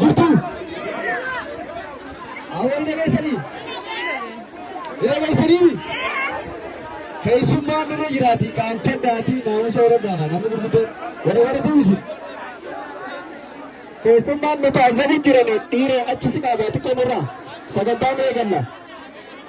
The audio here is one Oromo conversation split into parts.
Jirtuu? Awwal dhageessanii? Dhageessanii? Keessummaan nama jiraati kan keddaati naamusa horadhaa kan namni gurguddoo warra warra tuusi. Keessummaan nuti azzabi jirame dhiira achi si dhaabaa xiqqoo nurraa sagantaan eeganna.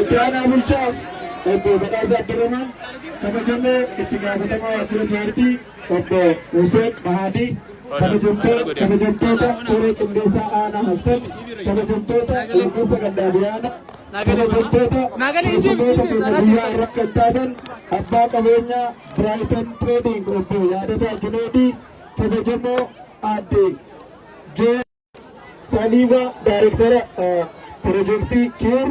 Itti aanaa bulchaa obbo Badhaasa Abdurrahmaan kabajamoo itti gaafatamaa waajjira paartii obbo Huseen Bahaadii kabajamtoo- kabajamtoota koree qindeessaa aanaa haftan kabajamtoota gurgursa gandaa biyyaana kabajamtoota keessummoota keenya guyyaa irratti kan taatan abbaa qabeenyaa Biraayitan Trading obbo Yaadataa Juneedii kabajamoo aadde Jee Saaniimaa Daayirektara Pirojektii Kiir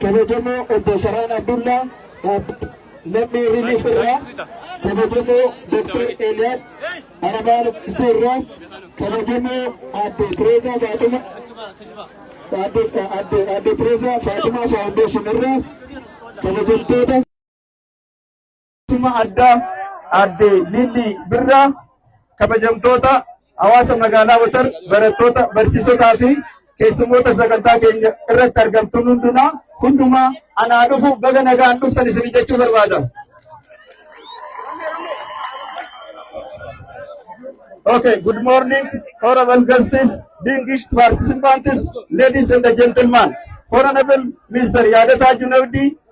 kabajamoo obbo Farhaan Abdullaa dhaabbata lammii Riiliif irraa kabajamoo Dr. Eeliyaas Aramaa Lubbistu irraa kabajamoo Aadde Tireezaa Faatuma Aadde Tireezaa Faatumaa Faawundeeshin irraa kabajamtoota Dhimma addaa aadde Lillii Birraa kabajamtoota hawaasa magaalaa Watar barattoota barsiisotaa fi keessummoota sagantaa keenya irratti argamtuun hundumaa hundumaa anaa dhufu baga nagaan dhuftan isin jechuu barbaada. Okay, good morning, honorable guests, distinguished participants, ladies and gentlemen. Honorable Mr. Yadata Junaudi,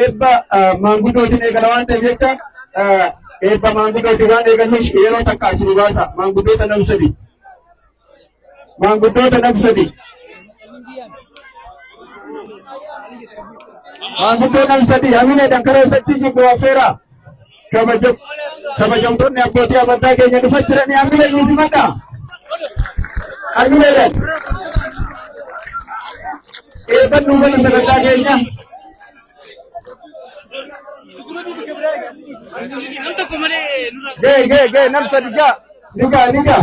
eebba maanguddootiin eegala waan ta'eef jecha eebba maanguddootiin waan eegalluuf yeroo takka as nu baasa maanguddoota nam sadi maanguddoota nam sadi maanguddoo nam sadi hamileedhaan karaa isatti jibbu affeera Kabajam- Kabajamtoonni abbootii amantaa keenya dhufa jiranii harmi keenya isin madhaa? Harmi keenya. Eebban nuufana sagantaa keenya. Gee gee gee nam sadi ja'a. Ni ga'a ni ga'a.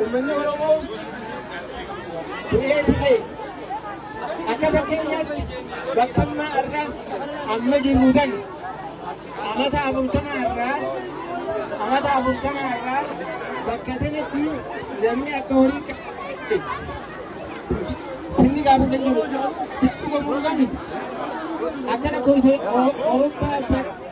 Uummanni Oromoo du'ee du'ee akka fakkeenyaatti bakka ammaa irraa amma jirru tan amata afurtama irraa amata afurtama irraa bakka tanatti namni akka horii qabu sinni gaafatan jiru. Sitti gammuu qabni. Akkana kun Awurooppaa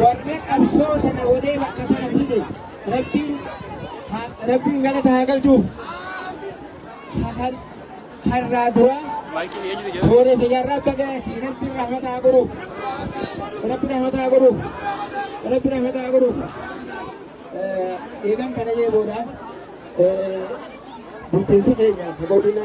Warri qabsoo tana godhee bakka tana fide rabbiin ha- rabbiin galata haa galchuuf. Kan har'aa duraa suuree siyyaarraa bagaati rabbi rahmata haa godhuuf. Rabbi rahmata haa godhuuf. Rabbi rahmata haa godhuuf. Eh, Eegan kana jee booda eh, bulchiinsi keenya godina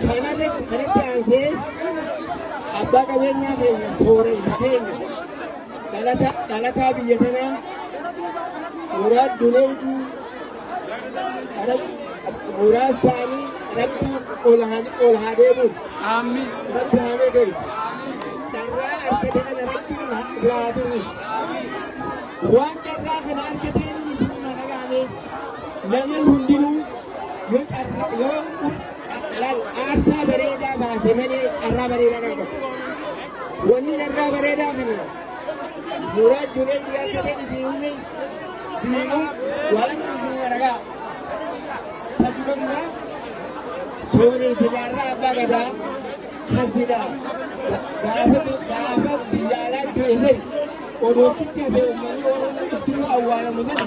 Kanarratti kanatti aansee abbaa qabeenyaa keenya sooressa keenya dhalata dhalataa biyya tanaa muraad duneeydu muraad isaanii rabbi ol haa- ol haa deemuun Aamiin. rabbi haa meegalu carraa argate kana rabbi ol haa biraa turu waan carraa kana argateen isin mana gaane namni hundinuu Yoo carra yoo laal aarsaa bareedaa baase malee carraa bareedaa kan qabu. Wanni carraa bareedaa kana muraad julee dhiyaata ta'e isin humne diimu waan isin waragaa. Sajjummaa sooree sigaarraa abbaa gadaa kan sidaa gaafa gaafa biyya alaa du'e sani odootitti hafee uummanni oromoo ittiin awwaalamu sani.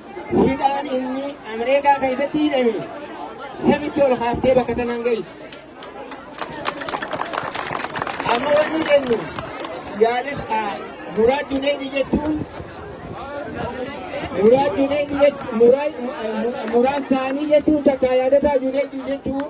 Hidhaan inni Ameerikaa keessatti hidhame samitti ol kaaftee bakka tanaan ga'iti. Amma wanni jennu yaalis muraad duneeji jechuun muraad duneeji jechuun muraad saanii jechuun takka yaadataa duneeji jechuun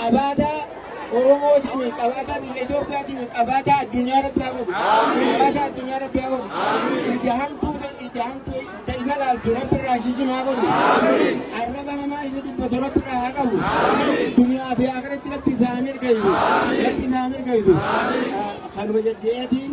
Qabaataa Oromootiin, qabaataa biyya Itoophiyaatiin, qabaataa addunyaa Rabbi haa godhu. Qabaataa addunyaa Rabbi haa godhu. Ija hamtuu ta- ija hamtuu ta isa laaltu Rabbi irraa shisin haa godhu. Arraba hamaa isa dubbatu Rabbi irraa haa qabu. Duniyaa fi akhiratti Rabbi isaa haa milkeessu. Rabbi isaa haa milkeessu. Kanuma jajja'eetiin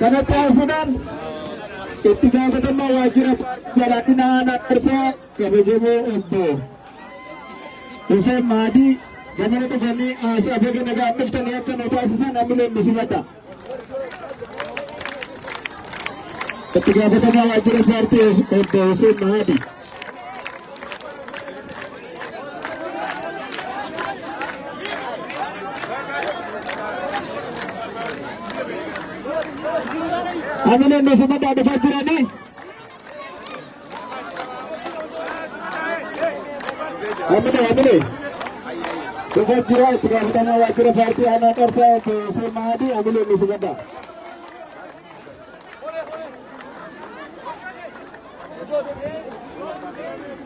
kanatti haasuudhaan itti gaafatamaa waajjira paartii badhaadhina aanaa qarsaa kabajamoo obbo Hussein Maadii gamana dhufanii haasaa baga nagaan dhuftanii akka nu taasisan hamileen nu simadha. Itti gaafatamaa waajjira paartii obbo Hussein Mahadi. Amileen Mosimmadaan dhufaa jiranii. Ammina ammina. Dhufa jira itti gaafatamaa waajjira paartii aanaa qarsaa obbo Hussein Mahadii ammina inni si gadda.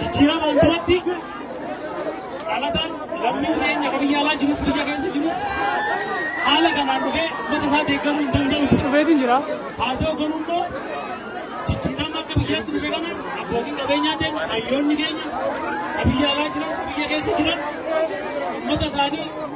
Jijjiiramaan duratti dhalataan lammiin keenya kan biyya alaa jirus biyya keessa jirus haala kanaan dhufee ummata isaa deeggaruu hin danda'u. Cufeetiin jira. Haa ta'u garuu immoo jijjiirama akka biyyaatti dhufe kana abbootiin qabeenyaa keenya hayyoonni keenya kan biyya alaa jiran kan biyya keessa jiran ummata isaanii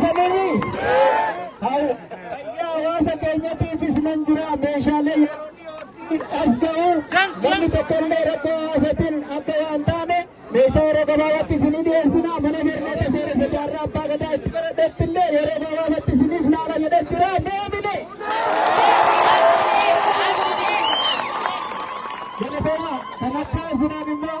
Dhageessanii Haw- fayyaa hawaasa keenyatiifis nan jira meeshaalee yeroo dhiyootti as ga'u namni tokkollee rakkoo hawaasaatiin akka waan taane meeshaa yeroo gabaabaatti isinii dhiyeessina mana barnoota seeressa jaarraa abbaa gadaa itti baradhetti illee yeroo gabaabaatti isiniif laala jedhee jira deebine. Galatoomaa kan akka isinaan immoo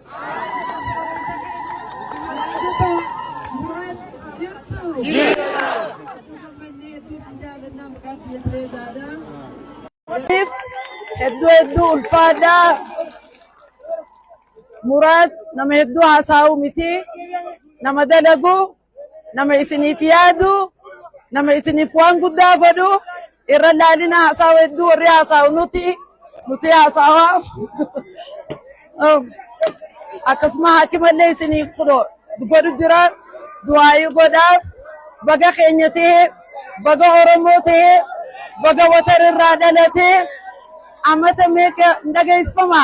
Hedduu hedduu ulfaadhaa. Muraad nama hedduu haasa'u miti. Nama dalagu. nama isiniif yaadu nama isiniif waan guddaa godhu irra laalina haasaawa hedduu warri haasaawu nuti nuti haasaawa akkasuma hakimallee isiniif fudho godhu jira du'aayii godhaaf baga keenya ta'e baga oromoo ta'e baga watar irraa dhalate amata meeqa dhageessifama.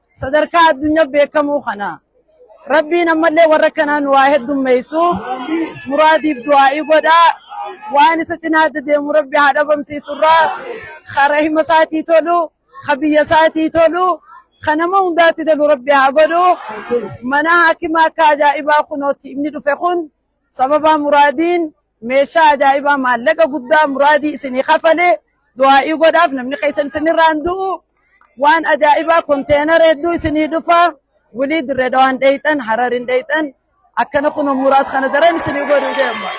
Sadarkaa addunyaa beekamuu kana Rabbiin ammallee warra akkanaa nu waa heddummeessu muraadiif du'aa'ii godhaa waan isa cinaa adda deemu Rabbi haa dhabamsiisurraa ka rahima isaatii tolu ka biyya isaatii tolu ka nama hundaatti tolu Rabbi haa godhu mana hakimaa akka ajaa'ibaa kunootti inni dhufe kun sababaa muraadiin Meeshaa ajaa'ibaa maallaqa guddaa muraadii isinii kafalee du'aa'ii godhaaf namni keessan isinirraan du'u waan ajaa'ibaa konteenara hedduu isinii dhufaa wulii dirree dhawaan dheeyxan hararin dheeyxan akkana kun muraad kana daran isinii godhu deema.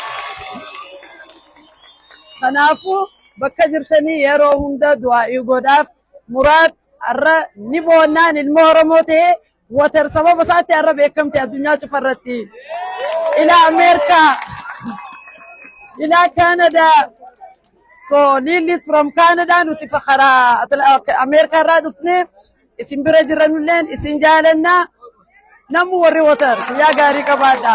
Kanaafuu bakka jirtanii yeroo hunda du'aa'ii godhaaf muraad har'a ni boonnaan ilmoo Oromoo ta'ee Water sababa isaatti har'a beekamte addunyaa cufa irratti. Ilaa Ameerikaa, ilaa Kaanadaa. So Lillis from Kaanadaa nuti fakaraa Ameerikaa irraa dhufne isin bira jiranulleen isin jaalanna. Namni warri water guyyaa gaarii qabaadha.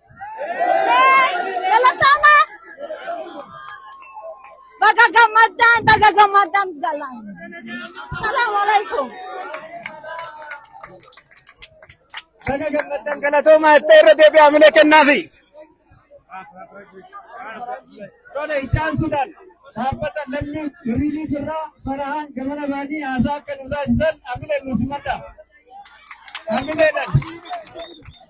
Galatama. Baga gammaddaan baga gammaddaan galaan. Salaamu alaikum. Baga gammaddan galatoomaa itti irra deebi'aa mina kennaafi. Tole itaan Sudaan dhaabbata lammii birrii birraa farahaan gamana baanii haasaa akka nu taasisan amileen nu simadha. Amileedhaan.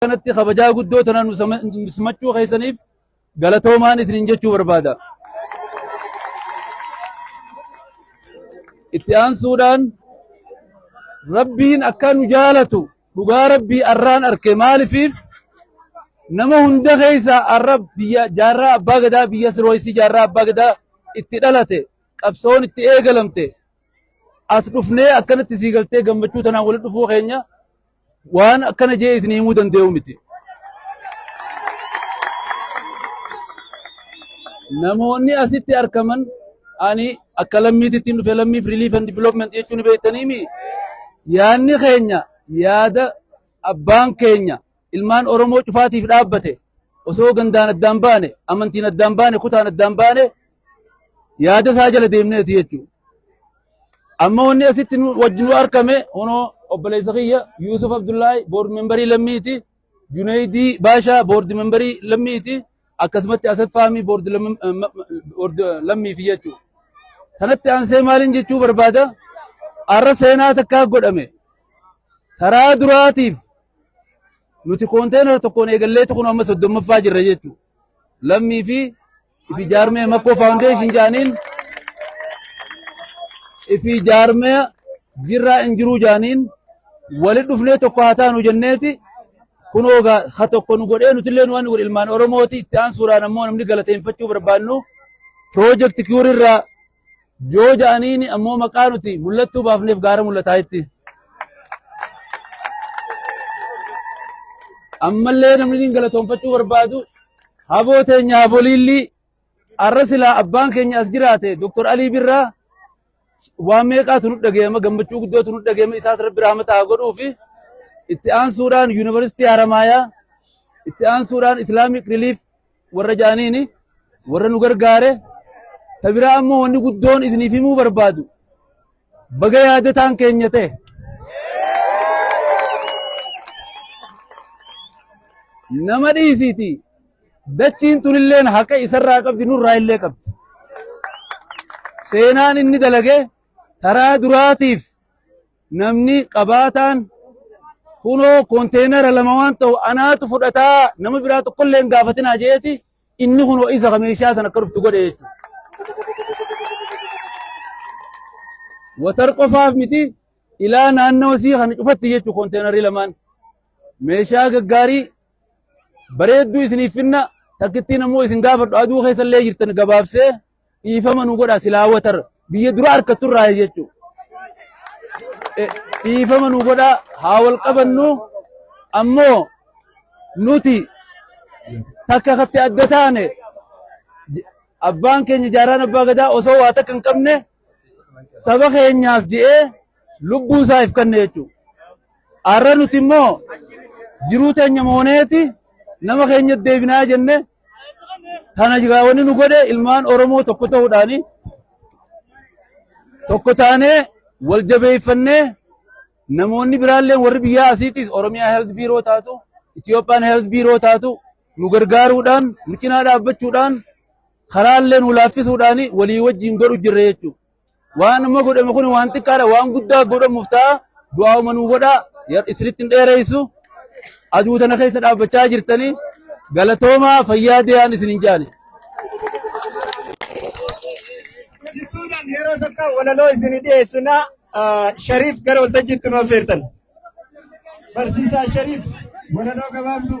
kanatti kabajaa guddoo tana nu sama- nu simachuu keessaniif galatoomaan isinin jechuu barbaada. Itti aansuudhaan rabbiin akka nu jaalatu dhugaa rabbii arraan arke maalifiif nama hunda keessa arra biyya jaarraa abbaa gadaa biyya sirooyisii jaarraa abbaa gadaa itti dhalate qabsoon itti eegalamte as dhufnee akkanatti sii galtee gammachuu tanaan walitti dhufuu keenya Waan akkana jee isin himuu danda'u miti. Namoonni asitti argaman ani akka lammiititti dhufe lammiif relief and development jechuun beektaniimi. Yaadni keenya yaada abbaan keenya ilmaan Oromoo cufaatiif dhaabbate osoo gandaan addaan baane amantiin addaan baane kutaan addaan baane yaada isaa jala deemneeti jechuudha. Amma wanni asitti nu wajjin nu argame kunoo obboleessa kiyya Yuusuf Abdullaahi boordi membarii lammiiti. Juneeydii Baashaa boordi membarii lammiiti. Akkasumatti Asad Faamii boordi lammi- eh, ma- ma- boordi lammiifi jechuudha. Kanatti aansee maaliin jechuu barbaada? Har'a seenaa takkaa godhame. Taraa duraatiif nuti konteenara tokkoon eegalleetu kun amma soddommaffaa jirra jechuudha. Lammii fi Ifi jaarmee Makkoo Faawundeeshin jaaniin ifi jaarmee jirraa hin jiruu jaaniin wali dhufnee tokko haa taanu jenneeti kunoo gaa ha tokko nu godhee nutillee nu waan godhe ilmaan Oromooti itti aansuudhaan ammoo namni galateeffachuu barbaannu piroojeekti kiwuurirraa Yoo ja'aniini ammoo maqaa nuti mul'attuu baafneef gaara mul'ataa'itti. Ammallee namni niin galatoonfachuu barbaadu haboo teenya haboliillii arra silaa abbaan keenya as jiraate Dr. Alii Birraa waan meeqaatu nu dhaga'ama gammachuu guddootu nu dhaga'ama isaas rabbi rahmata haa godhuu fi itti aansuudhaan yuunivarsiitii Haramaayaa itti aansuudhaan Islaamic Relief warra jaaniini warra nu gargaare ta biraa ammoo wanni guddoon isiniif himuu barbaadu baga yaadataan keenya ta'e nama dhiisiiti dachiin tunilleen haqa isarraa qabdi nurraa illee qabdi seenaan inni dalage taraa duraatiif Namni qabaataan kunoo konteenara lama waan ta'u anaatu fudhataa nama biraa tokkollee hin gaafatinaa jeeti inni kunoo isa ka meeshaa sana akka dhuftu godhe jechuudha. Watar qofaaf miti ilaa naannoo isii kana cufatti jechuudha konteenarri lamaan. Meeshaa gaggaarii bareedduu isiniif finna takkittiin ammoo isin gaafadhu aduu keessa illee jirtan gabaabsee dhiifama nu godha silaa watar biyya dura harkattu irraa jechuudha. Eh, dhiifama nu godha haa wal qabannu ammoo nuti takka katti adda taane j- abbaan keenya jaaraan abbaa gadaa osoo waa takka hin qabne saba keenyaaf je'ee lubbuu isaa if kanne jechuudha. Har'a nuti immoo jiruu teenya mooneeti nama keenya deebinaa jenne Tana jiraa wanni nu godhe ilmaan Oromoo tokko ta'uudhaani tokko taanee wal jabeeffannee namoonni biraallee warri biyyaa asiitis Oromiyaa Health Biiroo taatu Itiyoophiyaan Health Biiroo taatu nu gargaaruudhaan nu cinaa dhaabbachuudhaan karaallee nu laaffisuudhaan walii wajjin godhu jirra jechuudha. Waan amma godhame kun waan xiqqaadha waan guddaa godhamuuf ta'a du'aa'uma nuu godha isinitti hin dheereessu aduu tana keessa dhaabbachaa jirtanii galatoomaa fayyaa dee'aan isin hin jaane. Jidduudhaan yeroo tokko walaloo isin dhiyeessina Shariif gara waltajjiitti nu affeertan. Barsiisaa Shariif walaloo gabaabduu.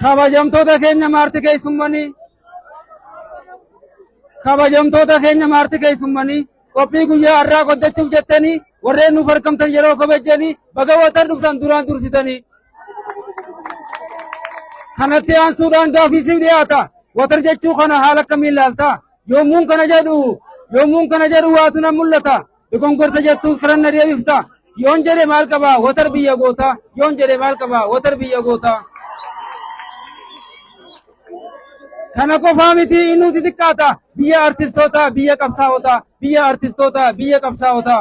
Kabajamtoota keenya maarti keessummanii kabajamtoota keenya maarti keessummanii qophii guyyaa har'aa qoddachuuf jettanii warreen nuuf argamtan yeroo kabajjanii baga watan dhuftan duraan dursitanii. Kanatti aansuudhaan gaafii siif dhiyaata. Watar jechuu kana haala akkamiin ilaalta? Yommuun kana jedhu yommuun kana jedhu waatu na mul'ata. Dogongorta jettu firanna deebifta. Yoon jedhe maal qaba watar biyya goota. Yoon jedhe maal qaba watar biyya goota. Kana qofaa miti innuuti xiqqaata. Biyya artistoota biyya qabsaa'ota. Biyya artistoota biyya qabsaa'ota.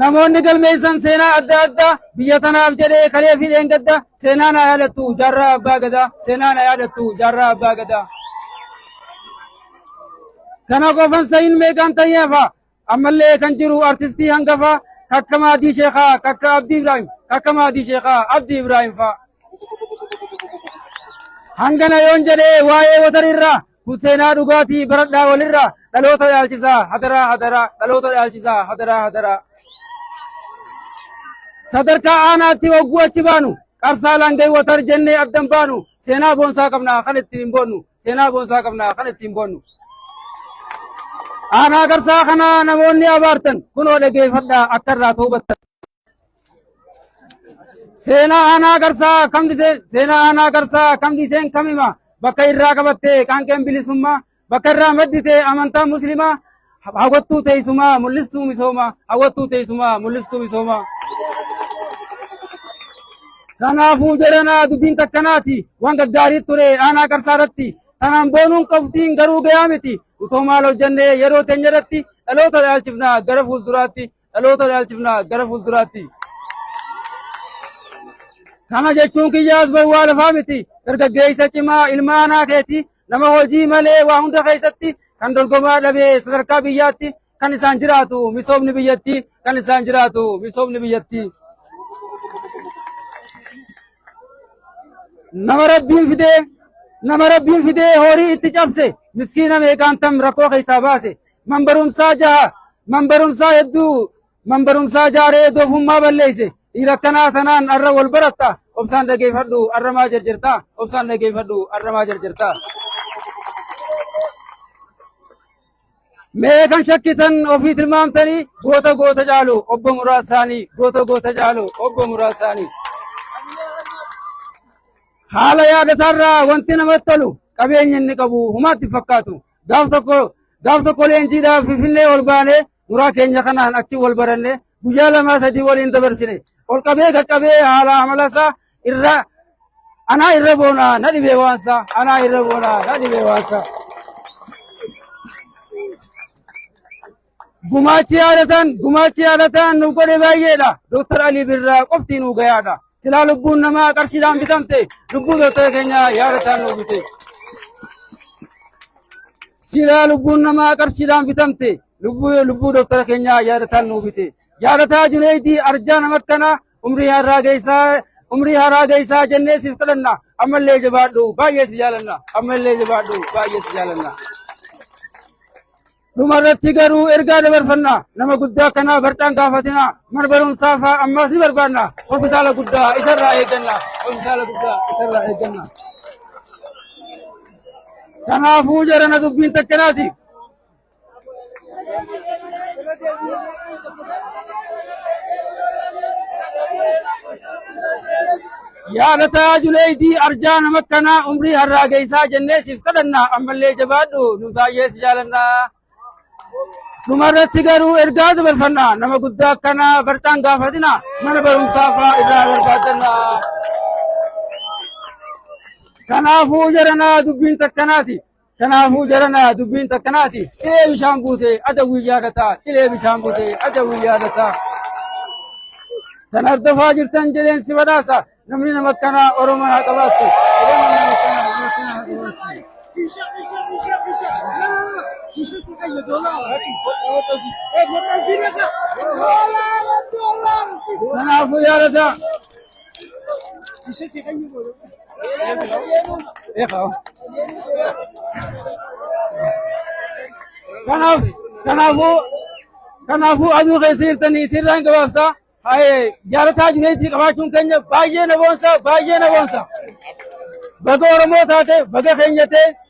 Namoonni galmeessan seenaa adda addaa biyya tanaaf jedhee kalee fi dheengadda seenaa na yaadattu jaarraa abbaa gadaa seenaa na yaadattu jaarraa abbaa gadaa. Kana qofan sayin meeqaan tayyeefa ammallee kan jiru artistii hangafa kakka maadii sheekaa kakka abdii ibraahim kakka maadii sheekaa abdii ibraahim fa'a. Hangana yoon jedhee waa'ee watarirraa Kun seenaa dhugaatii baradhaa walirraa dhaloota dhaalchisaa hadaraa hadaraa dhaloota dhaalchisaa hadaraa hadaraa. Sadarkaa aanaatti hogguu achi baanu qarsaa laangee watar jennee addan baanu seenaa boonsaa qabnaa kan ittiin hin boonnu seenaa boonsaa qabnaa kan ittiin boonnu. Aanaa qarsaa kanaa namoonni abaartan kunoo dhageeffadhaa akka irraa toobattan. Seenaa aanaa garsaa kam dhiseen seenaa aanaa garsaa kam dhiseen kam hima bakka irraa qabatte qaanqeen bilisummaa bakka irraa maddite amantaa muslimaa hawwattuu teessumaa mul'istuu misoomaa hawwattuu teessumaa mul'istuu misoomaa. Kanaafuu jedhanaa dubbiin takkanaati waan gaggaarii ture aanaa garsaa irratti tanaan boonuun qabxiin garuu gayaa miti utoo maal hojjannee yeroo teenya irratti dhaloota dhaalchifnaa gara fuulduraatti Dhaloota dhaalchifna gara fuulduraatti. Kana jechuun kiyyaas gowwaa lafaa miti. Dargaggeessa cimaa ilma aanaa keeti nama hojii malee waa hunda keessatti kan dorgomaa dhabee sadarkaa biyyaatti kan isaan jiraatu misoomni biyyattii kan isaan jiraatu misoomni biyyattii. Nama rabbiin fidee nama rabbiin fidee horii itti cabse miskiina meeqaantam rakkoo keessaa baase man barumsaa jaha man barumsaa hedduu man barumsaa jaaree doofummaa balleeyse dhiira akkanaa tanaan arra wal baratta obsaan dhageeffadhu arra maa jarjarta obsaan dhageeffadhu arra maa jarjarta mee kan shakkitan ofii tilmaamtanii goota goota caalu obbo muraasaanii goota goota caalu obbo muraasaanii haala yaadataarraa wanti namatti tolu qabeenya inni qabu humaatti fakkaatu Gaaf tokko gaaf tokko leenjiidhaaf Finfinnee ol baanee muraa keenya kanaan achi wal baranne guyyaa lamaa sadii waliin dabarsine ol qabee qaqqabee haala amalasaa irra anaa irra boonaa na dhibee waansaa anaa irra boonaa na dhibee waansaa. Gumaachi yaadataan gumaachi yaadataan nuuf godhe baay'eedha. Dooktar Alii Birraa qofti nuu gayaadha. Silaa lubbuun namaa qarshiidhaan bitamte lubbuu dooktar keenya yaadataan nuu bite. Silaa lubbuun namaa qarshiidhaan bitamte lubbuu lubbuu dooktar keenya yaadataan nuu bite. Yaadataa Juneeydii arjaa nama akkanaa umrii har'aa geessaa umrii har'aa geessaa jennee siif kadhanna. Ammallee jabaadhu baay'ee si jaalanna. Ammallee jabaadhu baay'ee si jaalanna. Dhuma irratti garuu ergaa dabarfanna nama guddaa kanaa barcaan gaafatina mana barumsaa fa'aa ammaas ni barbaanna hospitaala guddaa isarraa eegganna hospitaala guddaa isarraa eegganna. Kanaafuu jarana dubbiin takkanaati. Yaa Lataa Juneeydii arjaa nama akkanaa umrii harraa geessaa jennee siif kadhanna ammallee jabaadhu nu baay'ee si jaalanna. Dhumarratti garuu ergaa dabarfanna nama guddaa akkanaa barcaan gaafatina mana barumsaa fa'aa irraa barbaadanna. Kanaafuu jaranaa dubbiin takkanaati. Kanaafuu jaranaa dubbiin takkanaati. Cilee bishaan buutee ada guyyaa dataa. Cilee bishaan buutee ada guyyaa dataa. Kan hordofaa jirtan jedheen si badhaasa. Namni nama akkanaa Oromoo haa qabaattu. Oromoo nama akkanaa nama akkanaa haa qabaattu. Kanaafuu yaadataa. Kanaaf kanaafuu kanaafuu aduu keessa jirtanii sirraan gabaabsaa haye jaalataa jireetii qabaachuun keenya baay'ee na boonsa baay'ee na boonsa baga oromoo taate baga keenya ta'e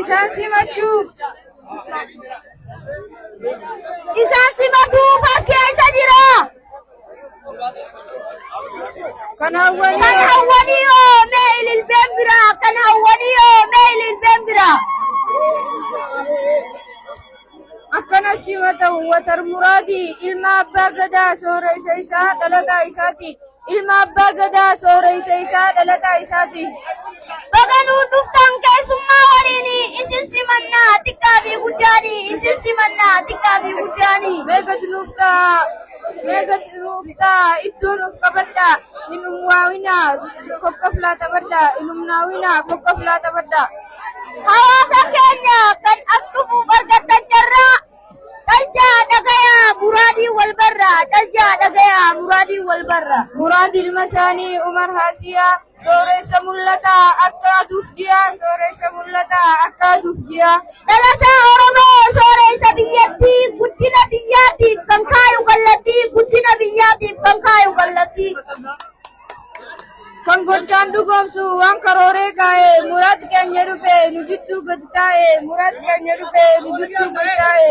Isaan simachuuf. Isaan simatuu fakkeessa jira. Kan hawwanii Kan hawwanii hoo mee ililbeen biraa? Kan hawwanii hoo mee ililbeen biraa? akkana sima ta'u watar muraadi ilma abbaa gadaa soora isa isaa dhalataa isaati ilma abbaa gadaa soora isa isaa dhalataa isaati Baga nuu dhuftan keessummaa waliin isin simannaa xiqqaa fi guddaani isin simannaa xiqqaa fi guddaani. meeqa nuuf ta'a Mee gad dhuftaa iddoon of qabadhaa hin umwaawinaa kokkoflaa taphadhaa hin umnaawinaa kokkoflaa taphadhaa. Hawaasa keenya kan as dhufuuf argattan carraa caljaa dhagayaa muraadiin wal barraa caljaa dhagayaa muraadiin wal barraa. Muraad ilma isaanii Umar Haasiyaa Sooressa mul'ata akka aduuf ji'a. Sooressa mul'ata akka aduuf ji'a. Dhalataa Oromoo sooressa biyyattii guddina biyyaatiif kan kaayu kallattii guddina biyyaatiif kan kaayu kallattii. Kan gochaan dhugoomsu waan karooree kaa'e muraad keenya dhufe nu jidduu gadi taa'e muraad keenya dhufe nu jidduu gadi taa'e.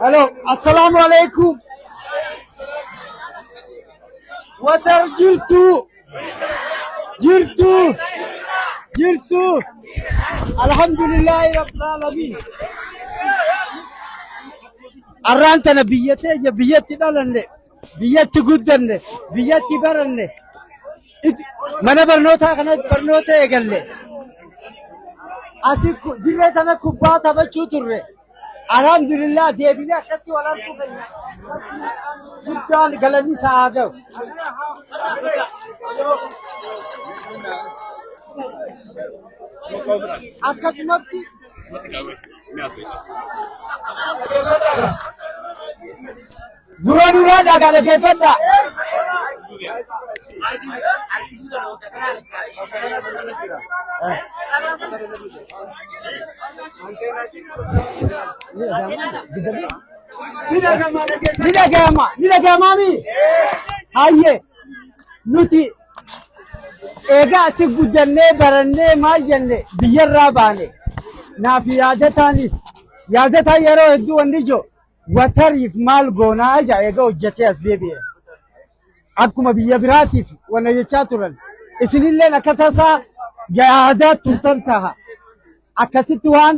Hello, assalamu alaikum. Watar jirtu. Jirtu. Jirtu. Alhamdulillah rabbil alamin. Arraan tana biyyatee biyya itti dhalanne biyyatti guddanne biyyatti baranne it- mana barnootaa kana barnoota eegalle asi ku- dirree tana kubbaa taphachuu turre alhamdulillah deebinee akkatti wal arguu keenya guddaan galanni isaa haa ga'u. akkasumatti Gurra duraa kaa kana keeffadha. Ni dhagayama. Ni dhagayama mi? Hayyee. Nuti egaa asi guddannee barannee maal jenne biyyarraa baane. Naaf yaadataanis yaadataan yeroo hedduu wanni jiru Watariif maal goonaa ja'a eega hojjatee as deebi'e. Akkuma biyya biraatiif wanna jechaa turan. Isinilleen akka tasaa yaadaa turtan taha. Akkasitti waan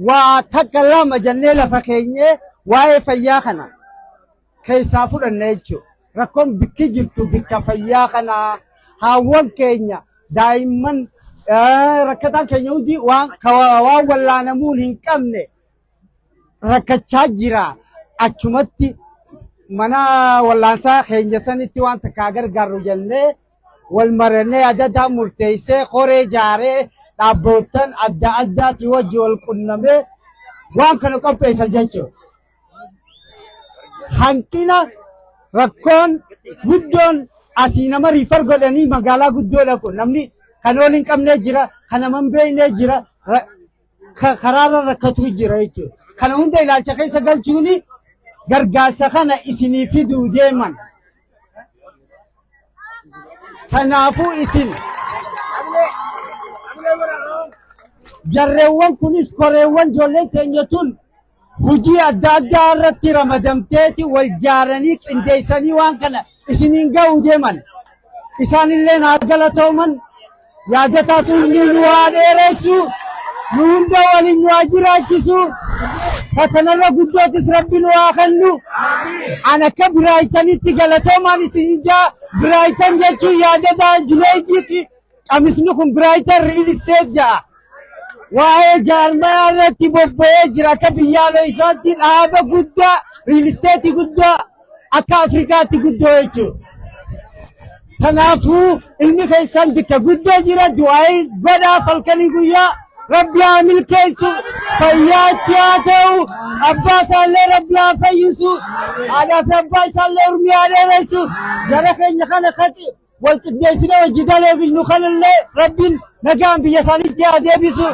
waa takka lama jennee lafa keenyee waa'ee fayyaa kana keessaa fudhanna jechuudha. Rakkoon bikki jirtu bikka fayyaa kanaa haawwan keenya daa'imman rakkataan keenya hundi waan wallaanamuun hin qabne rakkachaa jira achumatti mana wallaansaa keenya sanitti waan takkaa gargaarru jennee wal marannee adda addaa murteessee koree jaaree dhaabboottan adda addaatii wajji wal qunnamee waan kana qopheessan jechuudha. Hanqina rakkoon guddoon asii nama riifar godhanii magaalaa guddoodha kun namni kan ol hin qabnee jira kan nama hin beeknee jira ka- karaarra rakkatu jira jechuudha. Kana hunda ilaalcha keessa galchuun gargaarsa kana isinii fiduu deeman. Kanaafuu isin jarreewwan kunis koreewwan ijoolleen keenya tun hojii adda addaa irratti ramadamteeti wal jaaranii qindeessanii waan kana isiniin ga'uu deeman isaan illee naa galatooman yaadataa sun ni nu haa dheeressu nu hunda waliin nu haa jiraachisu fatanarra guddootis rabbi nu haa kennu an akka biraayitanitti galatoomaan isin ijaa biraayitan jechuun yaadataa juleeydiiti Qamisni kun Brighton Real Estate ja'a. Waa'ee jaarmayaa irratti bobba'ee jira akka biyyaaloo isaatti dhaaba guddaa Real Estate guddaa akka Afrikaatti guddoo jechuudha. Kanaafuu ilmi keessan bakka guddoo jira du'aa'ii godhaa falkanii guyyaa rabbi haa milkeessu fayyaa itti haa ta'u abbaa isaallee rabbi haa fayyisu haadhaa fi abbaa isaallee urmii haa dheeressu jara keenya kana kati wal qindeessinee hojii daleefi nu kanallee rabbiin nagaan biyya isaaniitti haa deebisu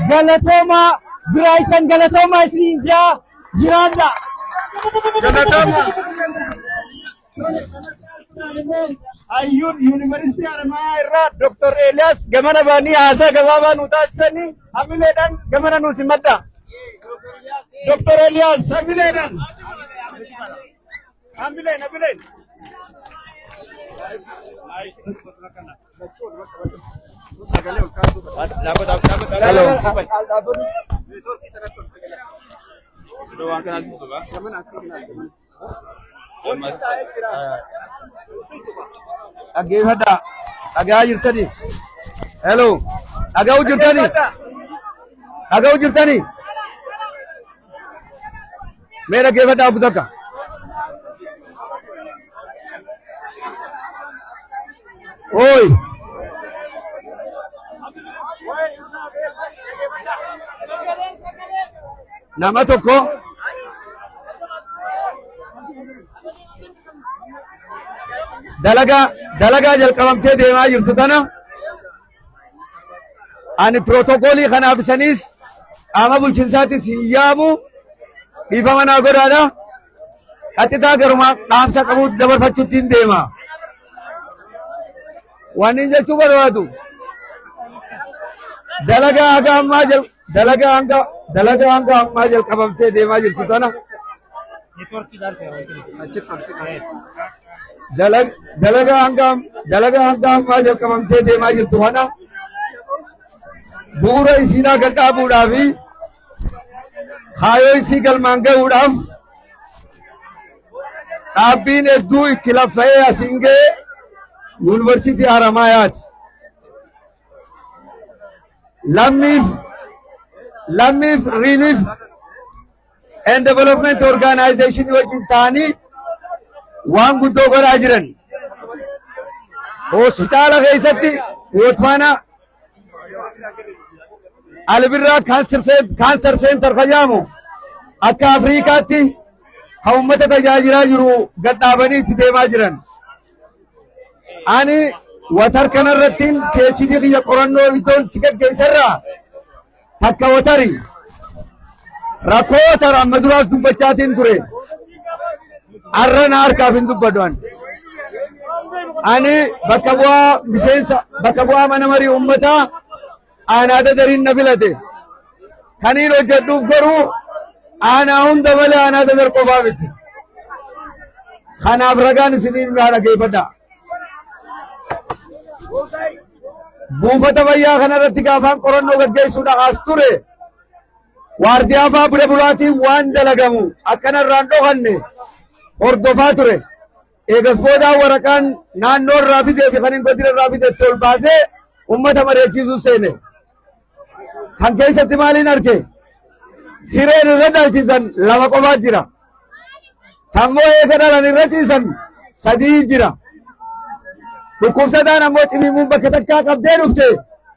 galatoomaa biraayitan galatoomaa isiniin jaa jiraadha. Galatoomaa. Hayyuun yuunivarsiitii Haramayaa irraa Dr. Eeliyaas gamana baanii haasaa gabaabaa nu taasisanii hamileedhaan gamana nu simadha. Dr. Eeliyaas hamileedhaan. Dhaggeeffadhaa. Dhagaa jirtani. Hello. Dhaga'u jirtani. Dhaga'u jirtani. Mee dhaggeeffadhaa oggu takka. Ooyi. Nama tokko dalagaa dalagaa jalqabamtee deemaa jirtu tana ani pirootokoolii kanaaf isaniis qaama bulchinsaatis hin yaamu dhiifama naa godhaadha qaxxitaa garuma dhaamsa qabuutti dabarfachuutti hin deema waan hin jechuu barbaadu dalagaa haga ammaa jalqabu Dalagaa hanga dalagaa hanga ammaa jalqabamtee deemaa jirtu tana dalag- dalagaa hanga dalagaa hanga ammaa jalqabamtee deemaa jirtu kana bu'uura isiinaa gad dhaabuudhaa fi kaayoo isii galmaan ga'uudhaaf dhaabbiin hedduu itti laffa'ee asiin ga'e yuunivarsiitii Haramaayaati. Lammiif Lammiif Relief and Development Organization wajjin ta'anii waan guddoo godhaa jiran. Hospitaala keessatti Bootsuwaana Alibirraa Kaansar Seentar kan jedhamu akka Afriikaatti kan uummata tajaajilaa jiru gad dhaabanii itti deemaa jiran. Ani watar kanarrattiin PhD kiyya qorannoo iddoon itti gaggeesserraa takka watari rakkoo watar amma duraas dubbachaatiin ture arra na harkaaf hin dubbadhu ani. Ani bakka bu'aa miseensa bakka bu'aa mana marii uummataa Aanaa Dadariin na filate. Kaniin hojjedhuuf garuu aanaa hunda malee aanaa Dadar qofaa miti. Kanaaf ragaan isiniif naa dhageeffadha. Buufata fayyaa kanarratti gaafaan qorannoo gaggeessuudhaaf as ture waardiyaa fa'aa bira bulaatiin waan dalagamu akkanarraan dhokanne hordofaa ture. Eegas boodaa waraqaan naannoo irraa fidee fi kan hin godina irraa fide itti ol baasee uummata mari'achiisuu seene. San keessatti maaliin arge? Sireen irra dhalchisan lama qofaa jira. Tammoo eega dhalan irra ciisan sadii jira. Dhukkubsataan ammoo cimimuun bakka takkaa qabdee dhufte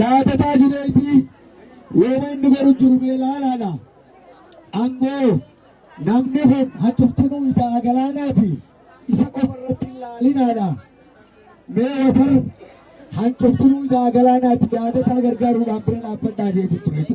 Yaadataa Juneeydii wooma inni godhu jiru mee laalaadha. Angoo namni kun hachuftinuu itaa galaanaati isa qofa irratti hin laalinaadha. Mee watar hanchuftinuu itaa galaanaati yaadataa gargaaruudhaan bira dhaabbadhaa jeetu turetu.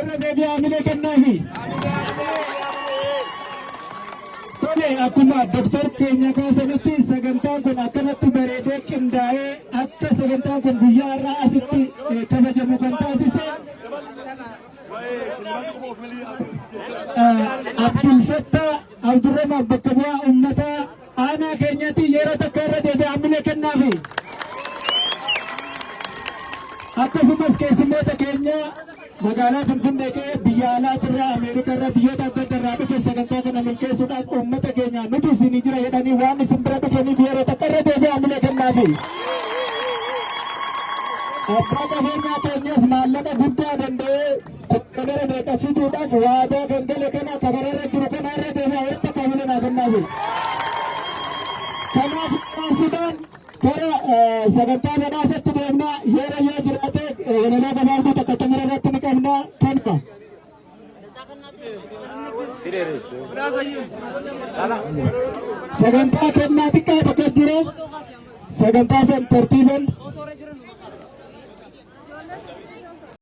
irra deebi'ee hamilee kennaafi. Tole akkuma doktar keenya kaasanitti sagantaan kun akkanatti bareedee qindaa'ee akka sagantaan kun guyyaa irraa asitti eh, kabajamu kan taasise eh, Abdulfattaa Abdurrahman bakka bu'aa uummataa Aanaa keenyatti yeroo takka irra deebi'ee hamilee kennaafi. Akkasumas keessummoota keenya magaalaa Finfinnee ka'ee biyya alaatirraa Ameerikarraa biyyoota adda addaa irraa dhufe sagantaa kana milkeessuudhaaf uummata keenya nuti isin jira jedhanii waan isin bira dhufaniif yeroo takka irra deebi'ee hamilee kennaafi. Abbaa qabeenyaa keenyas maallaqa guddaa danda'ee Bakka mara meeqa fiduudhaaf waadaa kan gale kana akka kanarra jiru kana irra deebi'aa walitti akka hawwina naa kennaa jiru. Kanaaf taasisaan gara sagantaa badhaasatti deemnaa yeera yoo jiraate walaloo gabaabduu takka xumura irratti ni qabna kanuma. Sagantaa kennaa xiqqaa tokko jira. Sagantaa san tartiiban